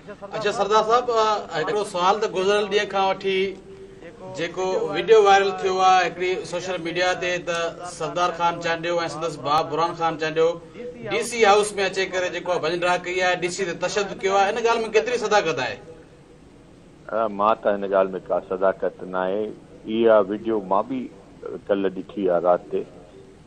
اچا سردار صاحب هڪڙو سوال ته گذريل ڏينهن کان وٺي جيڪو ويڊيو وائرل ٿيو آهي هڪڙي سوشل ميڊيا تي ته سردار خان چانڊيو ۽ سندس ڀاء Burhan Khan Chandio D C house ۾ اچي ڪري جيڪو ڀڃ ڊاهه ڪئي آهي ڊي سي تي تشدد ڪيو آهي ان ڳالهه ۾ ڪيتري صداقت آهي مان ته هن ڳالهه ۾ ڪا صداقت ناهي اها ويڊيو مان به ڪل ڏٺي آهي رات تي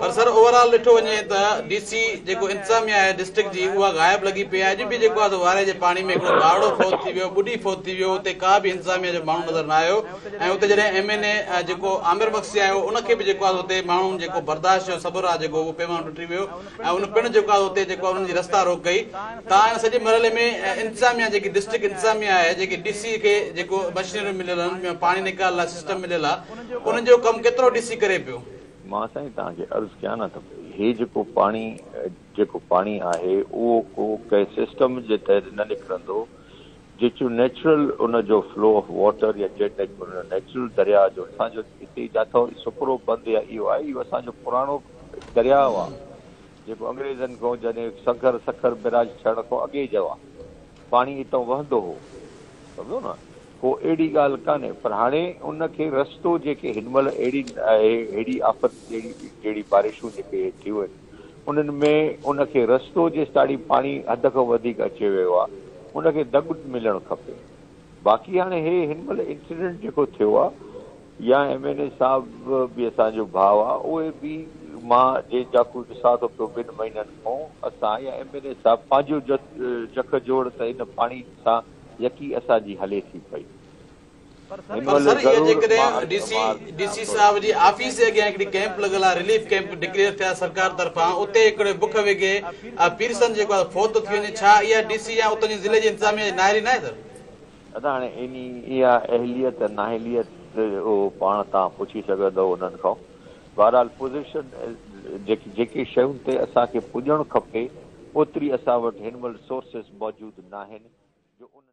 پر سر اوور آل ڏٺو وڃي ته ڊي سي جيڪو انتظاميا آهي ڊسٽرڪٽ جي اها غائب لڳي پئي آهي اڄ به جيڪو آهي سو وارهي جي پاڻي ۾ هڪڙو ٻارڙو فوت ٿي ويو ٻڏي فوت ٿي ويو اتي ڪا به انتظاميا جو ماڻهو نظر نه آيو ۽ اتي جڏهن ايم اين اي جيڪو عامر مگسي آيو ان کي به جيڪو آهي اتي ماڻهن جيڪو برداشت جو صبر آهي جيڪو اهو پيمانو ٽٽي ويو ۽ ان پڻ جيڪو آهي اتي جيڪو انهن جي رستا روڪ ڪئي تان ان سڄي مرحلي ۾ انتظاميا جيڪي ڊسٽرڪٽ انتظاميا آهي جيڪي ڊي سي کي جيڪو مشينريون مليل آهن پاڻي نيڪال لاء سسٽم مليل آهي انهن جو ڪم ڪيترو ڏسي ڪري پيو. مان سائين توهان کي عرض ڪيان نه ته هي جيڪو پاڻي جيڪو پاڻي آهي اهو ڪو ڪنهن سسٽم جي تحت نه نڪرندو جيچو نيچرل ان جو فلو آف واٽر يا جيٽ نيچرل درياء جو اسان جو هتي جاٿو سپرو بند يا اهو آهي اهو اسان جو پراڻو درياء آهي جيڪو انگريزن کان جڏهن سکر سکر بيراج ٺهڻ کان اڳي جو آهي. پاڻي اتان وهندو هو سمجهو نه ڪو اهڙي ڳالهه ڪانهي پر هاڻي ان کي رستو جيڪي هن مهل اهڙي اهڙي آفت جهڙي جهڙي بارشون جيڪي ٿيون آهن انهن ۾ ان کي رستو جيستاڻي پاڻي حد کان وڌيڪ اچي ويو آهي ان کي دڳ ملڻ کپي باقي هاڻي هي هن مهل انسيڊنٽ جيڪو ٿيو آهي يا ايم اين اي صاحب به اسان جو ڀاء آ اهي به مان جنهن جاکوء ڏسان ٿو پيو ٻن مهينن کون اسان يا ايم اين اي صاحب پنهنجو جک جوڙ ته ان پاڻي سان يڪي اسان جي هلي ٿي پئي هن مهل ضرور ڊي سي صاحب جي آفيس جي اڳيان هڪڙي ڪيمپ لڳل آ رليف ڪيمپ ڊڪليئر ٿيا سرڪار طرفان اتي هڪڙي بک وگهي پيرسن جيڪو آ فوت ٿي وڃي ڇا اها ڊي سي يا اتان جي ضلعي جي انتظاميا جي نااهلي ناهي سر. نه ته هاڻي انهي اها اهليت ناهليت اهو پاڻ تان پڇي سگهندؤ انهن کان. بهرحال پوزيشن جيڪي جيڪي شين تي اسان کي پڄڻ کپي اوتري اسان وٽ هن مهل سورسز موجود ناهن جو انهن